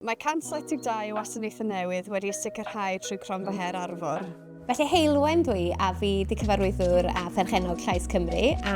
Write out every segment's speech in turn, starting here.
Mae 172 wasanaethau newydd wedi'u sicrhau trwy Cronfa Her Arfor. Felly Heulwen dw i a fi 'di cyfarwyddwr a pherchennog Llais Cymru a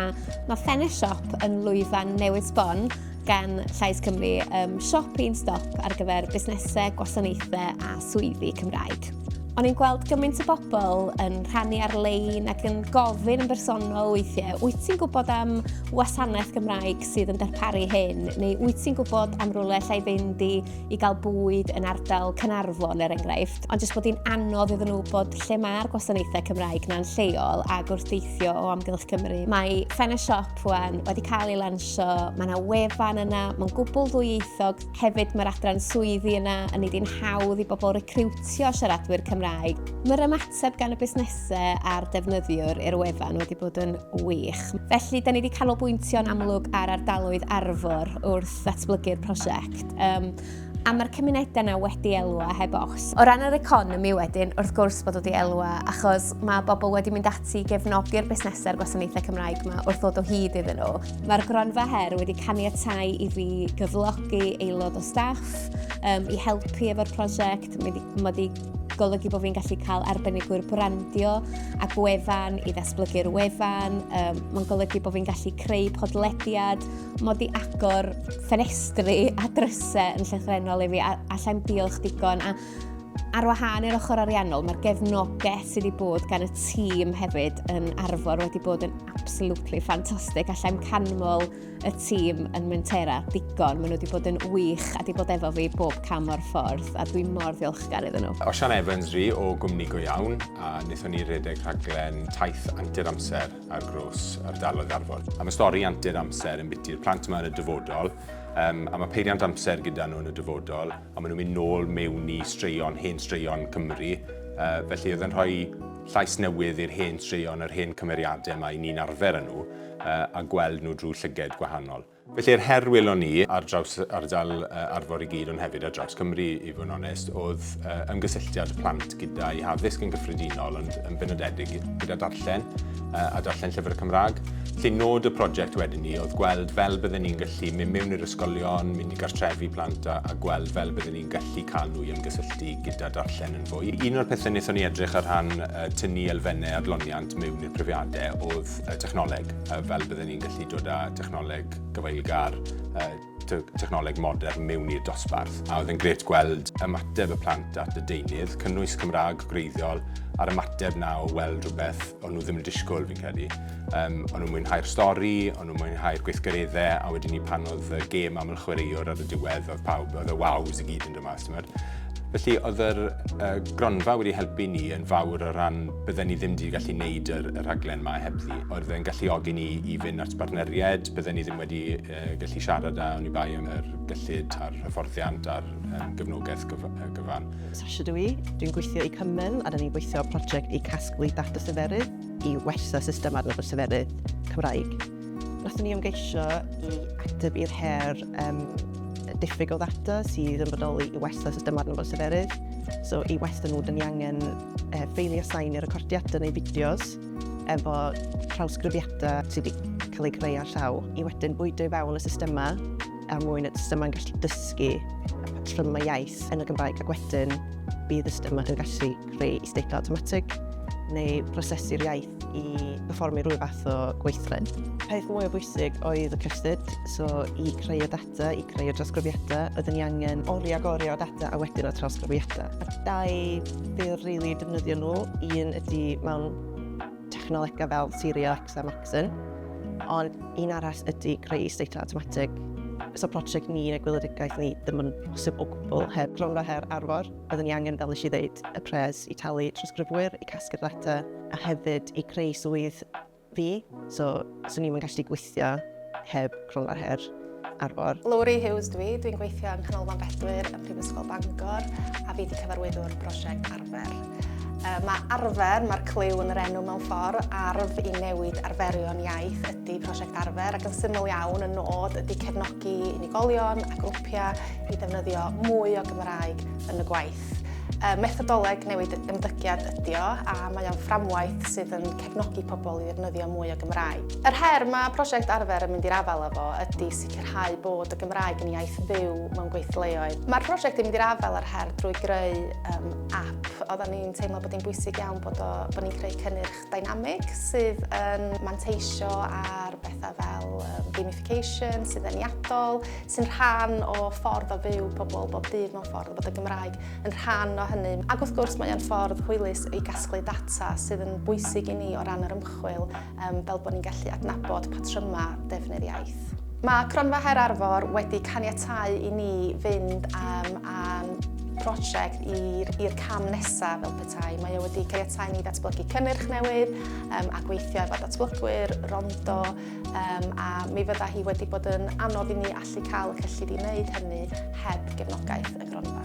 mae ffenest siop yn lwyfan newydd sbon gan Llais Cymru um, siop un stop ar gyfer busnesau, gwasanaethau a swyddi Cymraeg. O'n i'n gweld gymaint o bobl yn rhannu ar-lein ac yn gofyn yn bersonol weithiau, wyt ti'n gwybod am wasanaeth Gymraeg sydd yn darparu hyn, neu wyt ti'n gwybod am rwle lle i fynd i, i gael bwyd yn ardal Cynarfon er enghraifft, ond jyst bod hi'n anodd iddyn nhw bod lle mae'r gwasanaethau Cymraeg na'n lleol a gwrthdeithio o amgylch Cymru. Mae Fenna Siop wan wedi cael ei lansio, mae yna wefan yna, mae'n gwbl ddwyieithog, hefyd mae'r adran swyddi yna, yn ei di'n hawdd i bobl recriwtio siaradwyr Cymraeg. Mae'r Sef gan y busnesau a'r defnyddiwr i'r wefan wedi bod yn wych. Felly, da ni wedi canolbwyntio'n amlwg ar ardaloedd arfor wrth ddatblygu'r prosiect. Um, a mae'r cymunedau yna wedi elwa heb os. O ran yr economi wedyn, wrth gwrs bod wedi elwa, achos mae bobl wedi mynd ati i gefnogi'r busnesau'r gwasanaethau Cymraeg yma wrth ddod o hyd iddyn nhw. Mae'r gronfa her wedi caniatau i fi gyflogi aelod o staff um, i helpu efo'r prosiect. Mae wedi golygu bod fi'n gallu cael arbenigwyr brandio a gwefan i ddatblygu'r wefan. Um, Mae'n golygu bod fi'n gallu creu podlediad, mod i agor ffenestri a drysau yn llythrenol i fi, a allai'n diolch digon. A ar wahân i'r ochr ariannol, mae'r gefnogaeth sydd wedi bod gan y tîm hefyd yn arfor wedi bod yn absolutely ffantastig. Allai'n canmol y tîm yn Mwentera digon. Maen nhw wedi bod yn wych a wedi bod efo fi bob cam o'r ffordd a dwi'n mor ddiolchgar iddyn nhw. Osian Evans ri o gwmni go iawn a wnaethon ni redeg rhaglen taith antur amser ar gros ardaloedd Arfon. A mae stori antur amser yn biti'r plant yma yn y dyfodol um, a mae peiriant amser gyda nhw yn y dyfodol a maen nhw'n mynd nôl mewn i straeon, hen straeon Cymru. Uh, felly oedd yn rhoi llais newydd i'r hen straeon, yr hen cymeriadau mae ni'n arfer yn nhw. a gweld nhw drwy llyged gwahanol. Felly yr her welon ni ar draws ardal Arfor i gyd ond hefyd ar draws Cymru i fod yn onest oedd ymgysylltiad plant gyda'i haddysg yn gyffredinol ond yn benodedig gyda darllen a darllen llyfr y Cymraeg. Felly nod y prosiect wedyn ni oedd gweld fel bydden ni'n gallu mynd mewn i'r ysgolion, mynd i gartrefi plant a, a gweld fel bydden ni'n gallu cael nhw i ymgysylltu gyda darllen yn fwy. Un o'r pethau wnaethon ni edrych ar rhan tynnu elfennau adloniant mewn i'r profiadau oedd technoleg, fel byddwn ni'n gallu dod â technoleg gyfeillgar, technoleg modern mewn i'r dosbarth. A oedd yn gret gweld ymateb y plant at y deunydd, cynnwys Cymraeg gwreiddiol, a'r ymateb na o weld rhywbeth o'n nhw ddim yn disgwyl fi'n credu. Um, o'n nhw'n mwynhau'r stori, o'n nhw'n mwynhau'r gweithgareddau, a wedyn ni pan oedd y gêm aml chwaraewr ar y diwedd, oedd pawb, oedd y waws i gyd yn yma, os ti'n gwybod. Felly, oedd yr uh, gronfa wedi helpu ni yn fawr o ran bydden ni ddim wedi gallu gwneud yr, y rhaglen yma hebddi. Oedd e'n galluogi ni i fynd at bartneriaid, bydden ni ddim wedi uh, gallu siarad â ni bai am yr gyllid a'r hyfforddiant a'r um, gyfnogaeth gyf gyfan. Sasha dwi, i, dwi'n gweithio i Cymmen a dyn ni'n gweithio prosiect i casglu data seferydd i wella system adnabod seferydd Cymraeg. Nathon ni ymgeisio i ateb i'r her um, diffyg o ddata sydd yn bodoli i wella system adnabod seferydd. So i wella nhw, dyn ni angen uh, ffeili a sain i recordiadau neu fideos efo trawsgrifiadau sydd wedi cael ei greu ar llaw i wedyn bwydo i fewn y systemau er mwyn y systemau'n gallu dysgu y patrymau iaith yn y Gymraeg ac wedyn bydd y systemau yn gallu creu isdeitlau automatic neu prosesu'r iaith i berfformio rhyw fath o gweithred. Peth mwy o bwysig oedd y cystyd, so i creu y data, i creu y drosgrifiadau, oedden ni angen oriau ag oriau o data a wedyn y trosgrifiadau. A dau bil rili really defnyddio nhw, un ydy mewn technolegau fel Siri X a Maxon, ond un arall ydy creu seitlau automatic So prosiect ni yn y gwyledigaeth ni ddim yn bosib o gwbl heb gronfa her arfor. Byddwn ni angen, fel nes i ddeud, y pres i talu trosgrifwyr, i casglu'r data, a hefyd i creu swydd fi, so swn i'm yn gallu gweithio heb cronfa her arfor. Lowri Hughes dwi, dwi'n gweithio yng Nghanolfan Bedwyr ym Mhrifysgol Bangor a fi wedi cyfarwyddwr prosiect arfer. Uh, mae arfer, mae'r clyw yn yr enw mewn ffordd, arf i newid arferion iaith ydy prosiect arfer ac yn syml iawn y nod ydy cefnogi unigolion a grwpiau i ddefnyddio mwy o Gymraeg yn y gwaith. Fframwaith. Y methodoleg newid ymddygiad ydy o, a mae o'n fframwaith sydd yn cefnogi pobl i ddefnyddio mwy o Gymraeg. Yr her mae prosiect Arfer yn mynd i'r afael efo ydy sicrhau bod y Gymraeg yn iaith fyw mewn gweithleoedd. Mae'r prosiect yn mynd i'r afael â'r her drwy greu um, app. Oedden ni'n teimlo bod hi'n bwysig iawn bod, o, bod ni'n creu cynnyrch Dynamic sydd yn manteisio ar bethau fel gamification, sydd yn iadol, sy'n rhan o ffordd o fyw pobl bob dydd mewn ffordd, bod y Gymraeg yn rhan o hynny. Ac wrth gwrs mae'n ffordd hwylus i gasglu data sydd yn bwysig i ni o ran yr ymchwil fel bod ni'n gallu adnabod patrymau defnydd iaith. Mae Cronfa Her Arfor wedi caniatau i ni fynd am a'n prosiect i'r cam nesaf fel tai. Mae o wedi caniatáu ni ddatblygu cynnyrch newydd um, a gweithio efo datblygwyr, rondo, um, a mi fydda hi wedi bod yn anodd i ni allu cael y cyllid i wneud hynny heb gefnogaeth y gronfa.